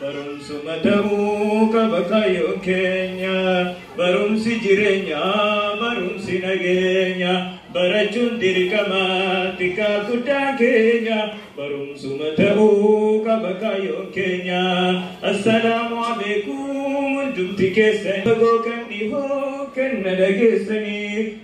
Barumsuma ta'uu qaba kaayyoon keenya Barumsi jireenya barumsi nageenya Barachuun dirqama xiqqaa guddaan keenya Barumsuma ta'uu qaba kaayyoon keenya Assalaamu aleekum hundumti keessan Fagoo kan dhihoo kan na dhageessanii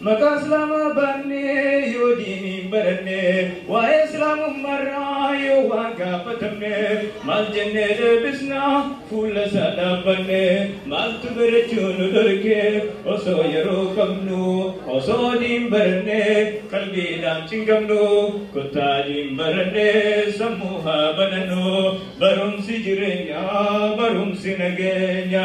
Maqaa Islaamaa baannee yoo diinii hin baranne, waa'ee Islaamummaarraa yoo waa gaafatamne, maal jennee deebisna fuula isaa dhaabbanne? Maaltu barachuu nu dhorke osoo yeroo qabnu? Osoo diin baranne qalbiidhaan cinqamnu, kottaa diin baranne sammuu haa banannu. Barumsi jireenyaa, barumsi nageenya.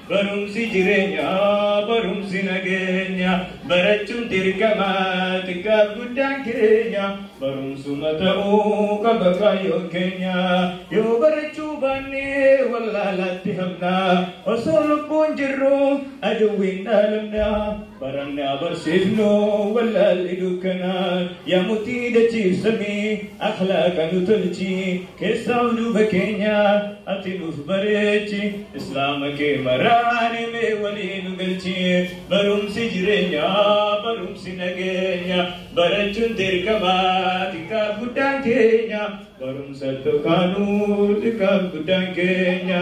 Barumsi jireenya barumsi nageenya barachuun dirqama xiqqaaf guddaan keenya barumsuma ta'uu qaba kaayyoon keenya yoo barachuu baanne wallaalaatti hafna osoo lubbuun jirru aduwwiin dhaalamna. Baranne abarsiifnoo wallaalli dukkanaa yaamutii dachiifsamii akhlaaqa nu tolchi keessaa duuba keenya ati nuuf bareechi islaama kee maraane mee walii nu galchi barumsi jireenya barumsi nageenya barachuun dirqama xiqqaa guddaan keenya barumsa tokkaanuu xiqqaa guddaan keenya.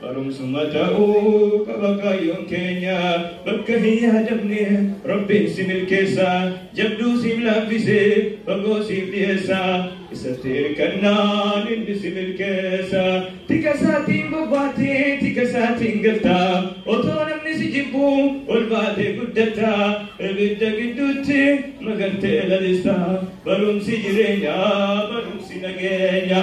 Barumsuma ta'uu qaba kaayyoon keenya bakka hin yaadamne rabbiin si milkeessa jabduu siif laaffise fagoo siif dhiyeessa isatti hirkannaan inni si milkeessa tika isaatiin bobbaate tika isaatiin galta otoo namni si jibbu ol baatee guddata ibidda gidduutti magartee lalista barumsi jireenyaa barumsi nageenya.